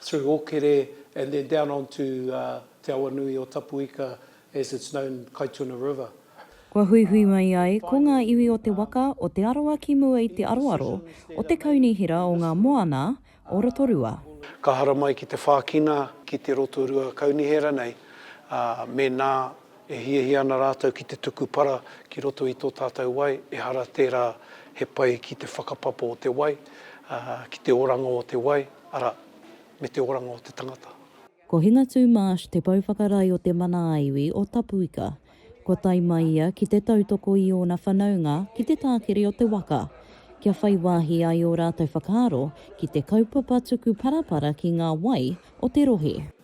through Okere and then down on to Te Awanui o Tapuika as it's known Kaituna River. Kua huihui mai ai ko ngā iwi o te waka o Te Arawa ki mua i te aroaro o te kaunihera o ngā moana o Rotorua. Ka haramai ki te whākina ki te Rotorua kaunihera nei, mēnā E hiahia ana rātou ki te tuku para ki roto i tō tātou wai, ehara tērā he pai ki te whakapapa o te wai, ā, ki te oranga o te wai, arā, me te oranga o te tangata. Ko Hingatū Marsh te pouwhakarai o te mana ā-iwi o Tapuika. Kua tae mai ia ki te tautoko i ōna whanaunga ki te tākiri o te waka, kia whai wāhi ai ō rātou whakaaro ki te kaupapa tuku parapara ki ngā wai o te rohe.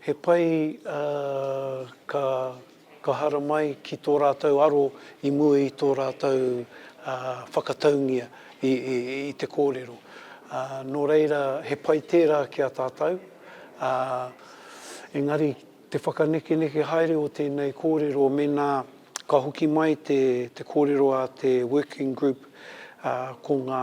He pai ka haramai ki tō rātou aro i mua i tō rātou whakataungia i te kōrero. Nō reira, he pai tērā ki a tātou, ā, engari te whakanekeneke haere o tēnei kōrero mēnā ka hoki mai te kōrero a te Working Group ko ngā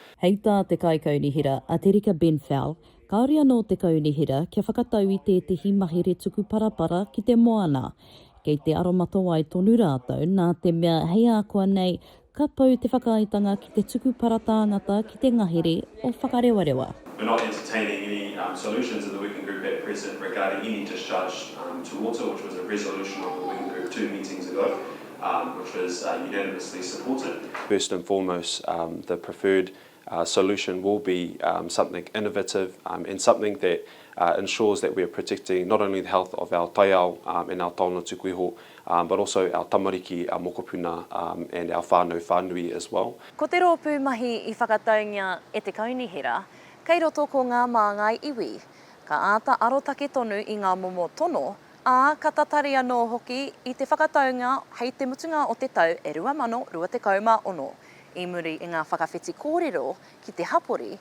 Hei tā te Kaikaunihera, a Te Rika Benfell, kāore anō te Kaunihera kia whakatau i tētehi mahere tuku parapara ki te moana. Kei te aromatawai tonu rātou nā te mea hei ākuanei ka pau te whakaaetanga ki te tuku para tāngata ki te ngahere o Whakarewarewa. We're not entertaining any solutions in the working group at present regarding any discharge to water which was a resolution of the working group two meetings ago. which was unanimously supported. First and foremost, the preferred solution will be something innovative and something that ensures that we are protecting not only the health of our taiao and our taonga tuku iho, but also our tamariki, our mokopuna and our whānau whānui as well. Ko te rōpū mahi i whakataungia e te Kaunihera, kei roto ko ngā māngai iwi. Ka āta arotake tonu i ngā momo tono, ā, ka tatari anō hoki i te whakataunga hei te mutunga o te tau e 2026, i muri i ngā whakawhiti kōrero ki te hapori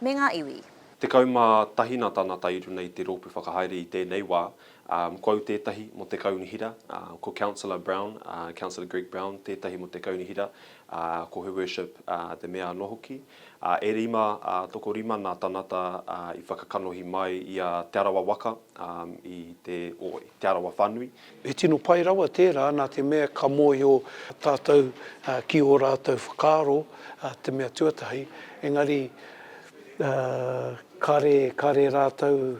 me ngā iwi. Tekau mā tahi nā tāna tae i runga i te rōpū whakahaere i tēnei wā, ā, ko au tētahi mō te kaunihera, ā, ko Councillor Brown, ā, Councillor Greg Brown tētahi mō te kaunihera, ā, ko Her Worship, ā, te Mea anō hoki. ā, e rima, ā, tokorima nā tanata, ā, i whakakanohi mai i a Te Arawa waka, ā, i te, o, Te Arawa whanui. He tino pai rawa tērā nā te mea ka mōhio tātou ki ō rātou whakaaro, te mea tuatahi, engari, ā, kare, kare rātou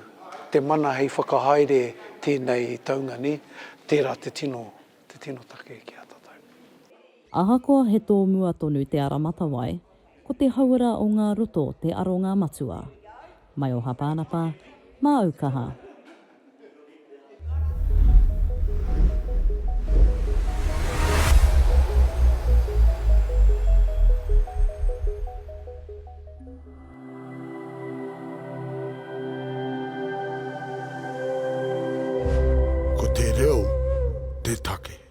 te mana hei whakahaere tēnei taunga nei, tērā te tino, te tino take ki a tātou. Ahakoa he tōmua tonu te ara matawai, ko te hauora o ngā roto te aronga matua. Mai o Hapānapa, māu kaha. Ko te reo te take.